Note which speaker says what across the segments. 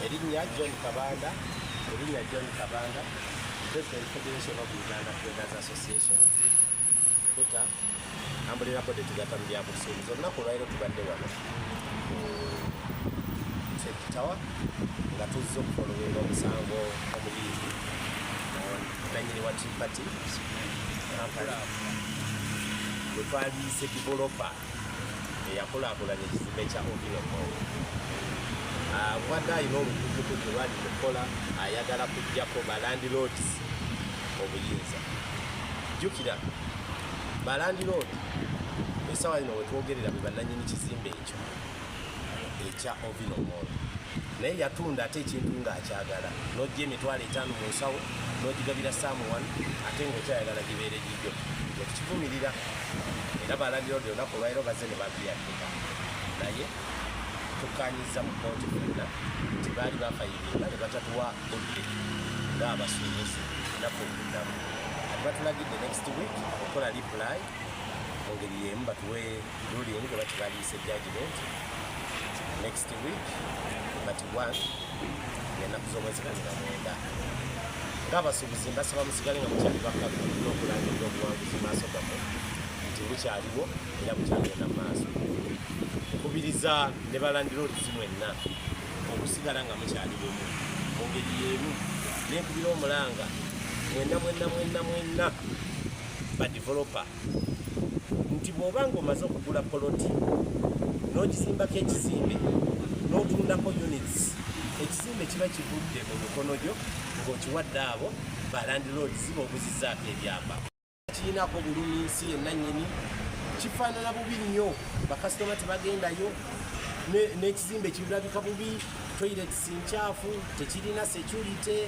Speaker 1: Erinnya John Kabanda Erinnya John Kabanda President Federation of Uganda Traders Association Kuta Ambulira Bode Tugata mu byabusuubuzi olunaku olwaliro tubadde wano Tawa nga tuzze okufolowinga omusango omuyimbi nanyini wa tripati kampala wetwaliise developer eyakulaakulanya ekizimbe kya Ovino Mall abadde alina olukukukuku lwali lukola ayagala kujjako balandiloodi obuyinza jjukira balandiloodi esawa yino wetwogerera bwe bannanyini kizimbe ekyo ekya ovino mall naye yatunda ate ekintu ng'akyagala n'ojja emitwalo etaano mu nsawo n'ogigabira saamu wanu ate ng'okyayagala gibeere gigyo ekivumirira era balandira odi olunaku olwaliro baze ne babiyatika naye tukkanyiza mu kooti fenna nti baali bafayiringa ne batatuwa budde ng'abasuubuzi naku okuddamu ati batulagidde next week okola liplayi mu ngeri y'emu batuwe ruling gwe bakibaliise judgment next week but one enaku z'omwezi kumi na mwenda ng'abasuubuzi mbasaba musigale nga mukyali bakalu n'okulangirira obuwanguzi maaso gamwe nti bukyaliwo era bukyagenda mu maaso nkubiriza ne balandira oluzi mwenna okusigala nga mukyali bumu mu ngeri y'emu n'ekubira omulanga mwenna mwenna mwenna mwenna badeveloper nti bw'oba ng'omaze okugula poloti n'ogizimbako ekizimbe n'otundako units ekizimbe kiba kivudde mu mikono gyo ng'okiwadde abo balandiloodi ziba obuzizaako ebyamba kirinako bulumi nsi yennanyini kifaanana bubi nnyo bakasitoma tebagendayo n'ekizimbe kirabika bubi toilets nkyafu tekirina security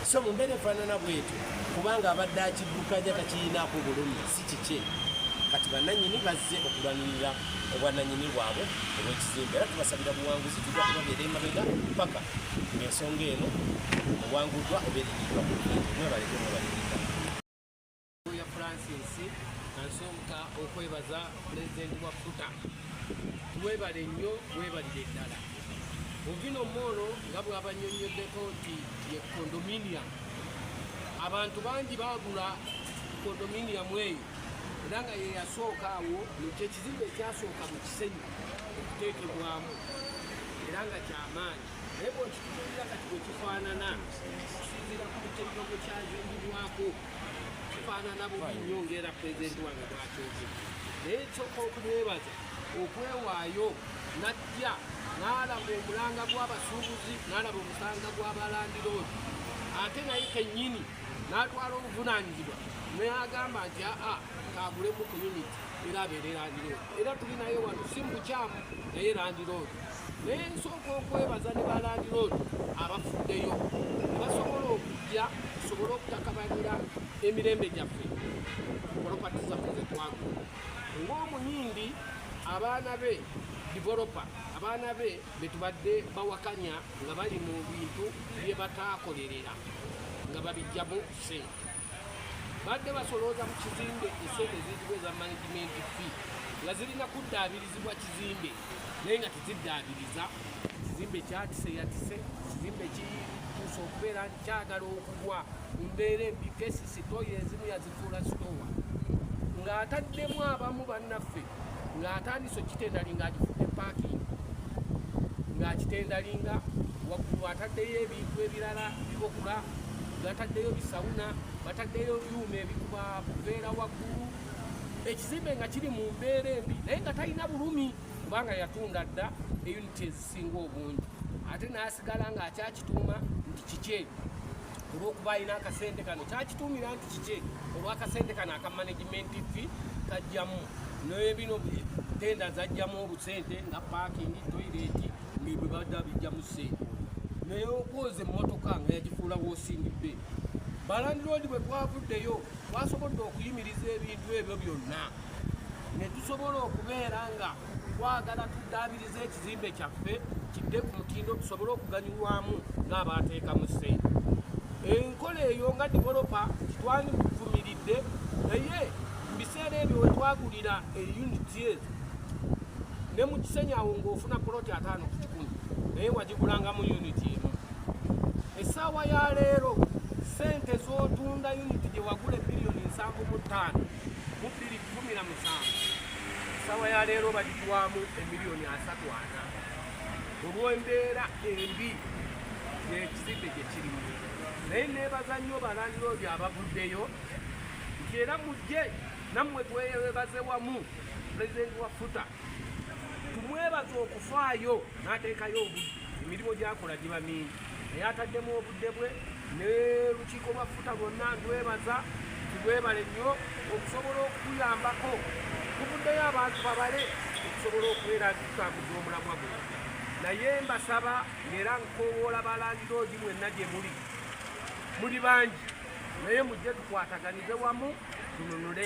Speaker 1: so mu mbeera efaanana bwetyo kubanga abadde akiddukanya takirinaako bulumi si kikye kati bananyini bazze okulwanirira obwananyini bwabwe obwekizimbe era tubasabira buwanguzi tujja kubabeera emabega paka ngaensonga eno owanguddwa oba erinyidwa mwebalekemwebalekea
Speaker 2: Oya Francis nasooka okwebaza pulezidenti wa futa webale nnyo webalire eddala ovino moolo nga bwabanyonyoddeko nti ye condominium abantu bangi bagula condominium eyo era nga yeyasooka awo kyekizimbe ekyasooka mu kisenyi okuteekebwamu era nga kyamaanyi naye bwekitukulira kati bwekifaanana okusinzira ku buteeka bwekyazimbibwako kifaanana bubi nnyo ngaera pulezidenti wange bwakyoozi naye kyoka okumwebaza okwewaayo najja n'alaba omulanga gw'abasuubuzi n'alaba omusanga gw'abalandiroodi ate naye kennyini n'atwala obuvunaanyizibwa neyagamba nti aa kagulemu community era abeere landiroodi era tulinaye wano si mu bukyamu naye landiroodi Nensooka okwebaza ne ba landiroodi abafuddeyo ne basobola okujja tusobole okutakabanira emirembe gyaffe polopati zaffe ze twagu ng'omuyindi abaana be divolopa abaana be be tubadde bawakanya nga bali mu bintu bye bataakolerera nga babijjamu sente badde basolooza mu kizimbe esente eziyitibwa eza management fee nga zirina kuddaabirizibwa kizimbe naye nga teziddaabiriza ekizimbe kyatise yatise ekizimbe kituusa okubeera nti kyagala okugwa mu mbeera embi kesisi toyi ezimu yazifuula sitowa ng'ataddemu abamu bannaffe ng'atandise okitendali ng'agifudde paakingi ng'akitendalinga waggulu ataddeyo ebintu ebirala bibokula gataddeyo bisawuna bataddeyo byuma ebikuba buveera waggulu ekizimbe nga kiri mu mbeera embi naye nga talina bulumi kubanga yatunda dda eyuniti ezisinga obungi ate n'asigala ng'akyakituuma nti kikye olw'okuba alina akasente kano kyakituumira nti kikye olw'akasente kano aka managimenti fi kajjamu nebino tenda zajjamu obusente nga paakingi toireeti nebwe badda bijjamu sente naye okwoza emmotoka nga yagifuula wosingi be balandiroodi bwe twavuddeyo twasobodde okuyimiriza ebintu ebyo byonna ne tusobola okubeera nga twagala tuddaabiriza ekizimbe kyaffe kidde ku mutindo tusobole okuganyulwamu ng'abaateekamu ssente enkola eyo nga developa titwandivumiridde naye mu biseera ebyo we twagulira eyuniti ezo ne mu kisenyawo ng'ofuna poloti ataano ku kikumi naye wagigulanga mu yuniti emu essaawa ya leero sente z'otunda yuniti gye wagula ebiliyoni nsanvu mu ttaano mu bbiri kumi na musanvu essaawa ya leero bagitwamu emiliyoni asatu ana olw'embeera embi ekizimbe gye kirimu naye neebaza nnyo balandiro oyo abavuddeyo nti era mujje nammwe tweyebaze wamu pulezidenti wa futa tumwebaza okufaayo n'ateekayo obudde emirimu gyakola giba mingi naye ataddemu obudde bwe ne lukiiko lwa futa lwonna ndwebaza tibwebale nnyo okusobola okuyambako tuvuddeyo abantu babale okusobola okubeera tutakuza omulamwa guno naye mbasaba ngaera nkowoola balandiloogi mwenna gye muli muli bangi naye mujje tukwataganize wamu tununule